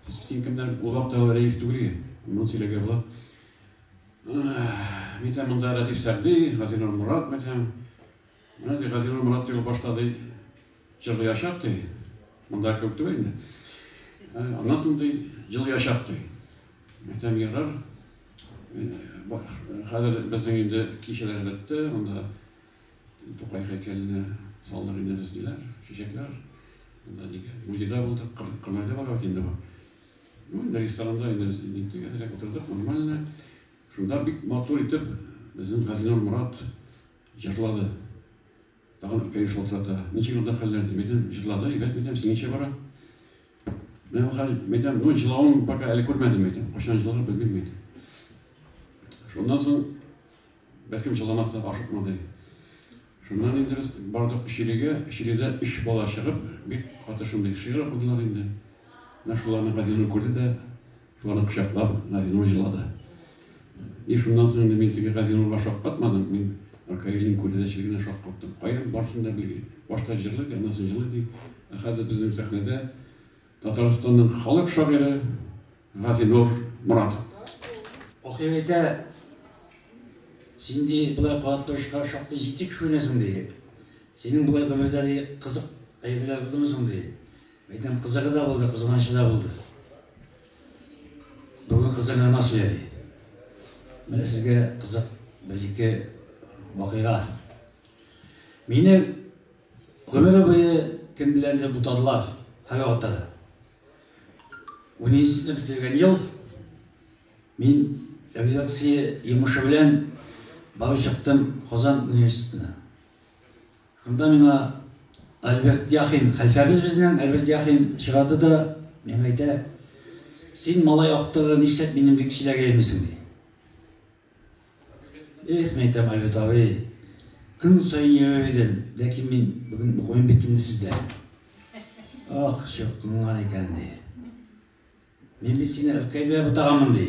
Син кемнән кулак тагы рәис түгел иген. Моны сөйләгән була. Мин тә монда Радиф Сәрди, Газинур Мурат мәтәм. Менә ди Газинур Мурат дип башта ди җырлый яшап ди. Монда күп түгел инде. Аннан соң ди җыл яшап ди. Мәтәм ярар. Хәзер безнең инде кичәләр бетте, монда Тукай һәйкәленә салдык инде без, диләр, чәчәкләр. Монда нигә? Музейда булдык, кыр- Кырнайда бара бит инде бу. Ну, инде ресторанда инде без ниттек, әзрәк утырдык, нормально. Шунда бик матур итеп безнең Газинур Морат җырлады. Тагын икәү шалтырата. Ничек анда хәлләр дип әйтәм, җырлады, әйбәт мәйтәм, синеңчә бара. Менә бу хәл, мәйтәм, ну, җылавын пока әле күрмәдем, мәйтәм, кайчан җылар, белмим, мәйтәм. Шуннан соң Бәлкем җыламас та, ашыкмады. Шуннан инде без бардык Чилегә. Чиледә өч бала чыгып, бик каты шундый шигырь укыдылар инде. Менә шуларны Газинур күрде дә, шуларны кочаклап, Газинур җылады. И шуннан соң инде мин теге Газинурга шаккатмадым, мин Ркаилнең күрәзәчеле генә шаккаттым. Каян барсын да белгли. Башта җырлый ди, аннан соң җылый ди. Ә хәзер безнең сәхнәдә Татарстанның халык шагыйре, Газинур Моратов. Акыйм әйтә, Син, ди, болай кабат торышка шактый җитди кешеләрдән соң, ди. Синең болай гомердә, ди, кызык әйберләр булдымы соң, ди. Әйтәм, кызыгы да булды, кызганычы да булды. Бүген кызыгы гына сөйә, ди. Менә сезгә кызык бер-ике вакыйга. Мине гомере буе кем беләндер бутадылар, һәрвакытта да. Университетны бетергән ел мин редакция йомышы белән барып чыктым Казан университетына. Шунда миңа Альберт Яхин, хәлфәбез безнең, Альберт Яхин чыгарды да миңа әйтә, син малай актыгы нишләп минем лекцияләргә йөрмисең ди. Эх, мәйтәм, Альберт абый, көн саен йөрер идем, ләкин мин бүген укымыйм бит инде сездә. Ах, чыккынган икән, ди. Мин бит сине Ркай белән бутаганмын, ди.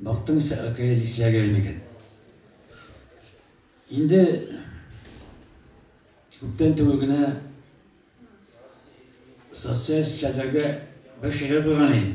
Бактың исә Ркай лисәгә инекен. Инде күптән түгел генә социаль челтәргә бер шигырь куйган идем.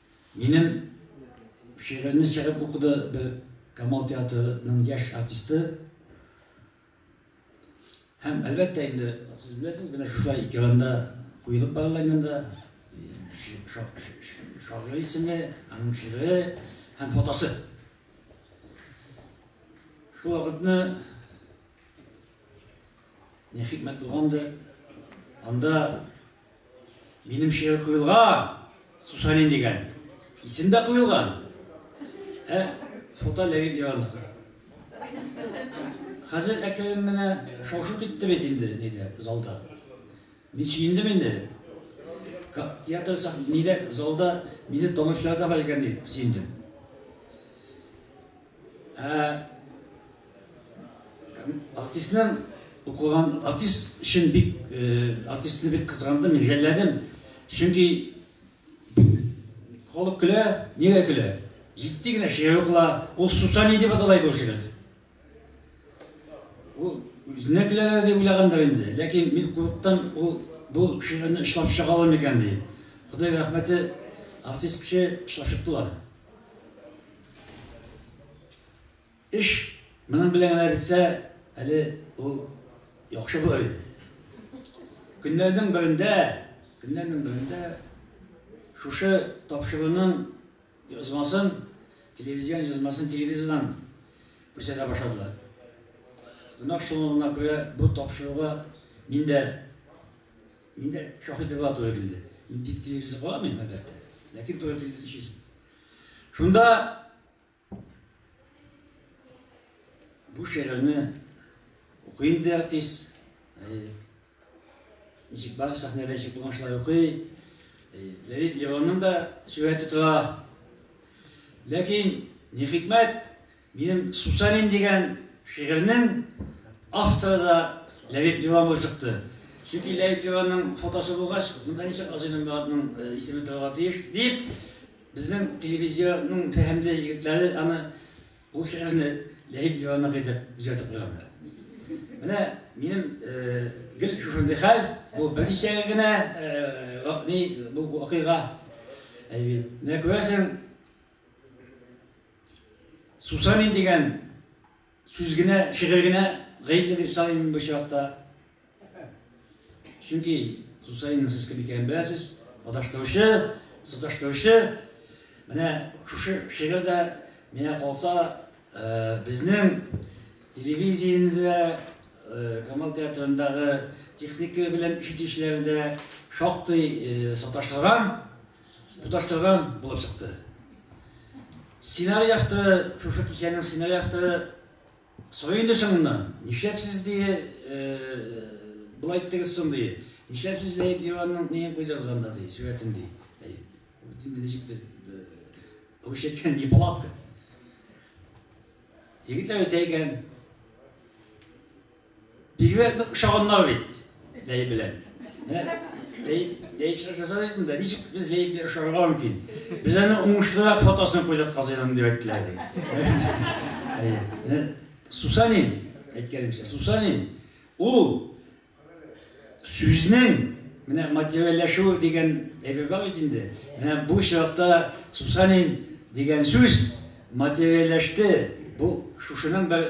Минем шигырьне чыгып укыды бер Камал театрының яшь артисты. Һәм әлбәттә инде сез беләсез, менә шулай экранда куелып барыла инде шагыйрь исеме, аның шигыре һәм фотосы. Шул вакытны не хикмәт булгандыр, анда Минем шигырь куелган, Сусанин дигән. Исем дә куелган. Ә фото Ләвин Иванов. Хәзер әкрен генә шау-шу китте бит инде, диде залда. Мин сөендем инде. Театр сак, нидә залда, мине томышларда бар икән дип сөендем. Ә артистның укыган артист өчен бик э, артистны бик кызгандым, җәлләдем. Чөнки халык көлә, нигә көлә? Җитди генә шигырь укыла, ул Сусани дип аталайды ул шигырь. Ул үзенә көләләр дип уйлагандыр инде, ләкин мин курыктан ул бу шигырьне эшләп чыга алам икән ди. Ходай рәхмәте, артист кеше эшләп чыктылар. Эш моның белән генә бетсә, әле ул яхшы булыр иде. Көннәрнең берендә, көннәрнең берендә шушы тапшыруның язмасын, телевизион язмасын телевизордан күрсәтә башладылар. Гөнаһ шомлыгына күрә бу тапшыруга мин дә мин дә шаһит булырга туры килде. Мин бит телевизор карамыйм, әлбәттә. Ләкин туры килде дишесен. Шунда бу шигырьне укый инде артист. Ничек бар сәхнәдә ничек булган шулай укый. Ләбиб Левонның да сүрәте тора. Ләкин, ни хикмәт, Минем Сусанин дигән шигырьнең авторы да Ләбиб Милан булып чыкты. Чөнки Ләбиб Миланның фотосы булгач, монда ничек Азый Нурмәгатның исеме торырга тиеш, дип, безнең телевизиянең фәһемле егетләре аны бу шигырьне Ләбиб Миланныкы итеп үзгәртеп куйганнар. Менә минем гел шушындый хәл, бу берничә генә ни бу вакыйга. Менә күрәсең, Сусанин дигән сүз генә, шигырь генә гаепле дип саныйм мин бу чакта. Чөнки Сусанинның сез кем икәнен беләсез, адаштыручы, саташтыручы. Менә шушы шигырь дә миңа калса, э, безнең телевидениедә Э, Камал театрындагы техника белән ишетүчеләре дә шактый э, саташтырган. Тоташтырган булып чыкты. Сценарий авторы, шушы кичәнең сценарий авторы сорый инде соңыннан, нишләп сез дие, былай иттегез соң дие, нишләп сез Ләеп Иванның неен куйдыгыз анда дие, сурәтен дие. Инде ничектер, русча әйткән неполадка. Егетләр әйтә икән, Бигрәк нык ошаганнар бит Ләй белән. Ләй, Ләй эшләр жасады бит инде. Ничек без Ләй белән ошарга мөмкин? Без аны уңышлырак фотосын куйдык казыйның дип әйттеләр. Әйе. Сусанин әйткәнемчә, Сусанин ул сүзнең менә материальләшү дигән әйбер бар бит инде. Менә бу чиратта Сусанин дигән сүз материальләште. Бу шушының бер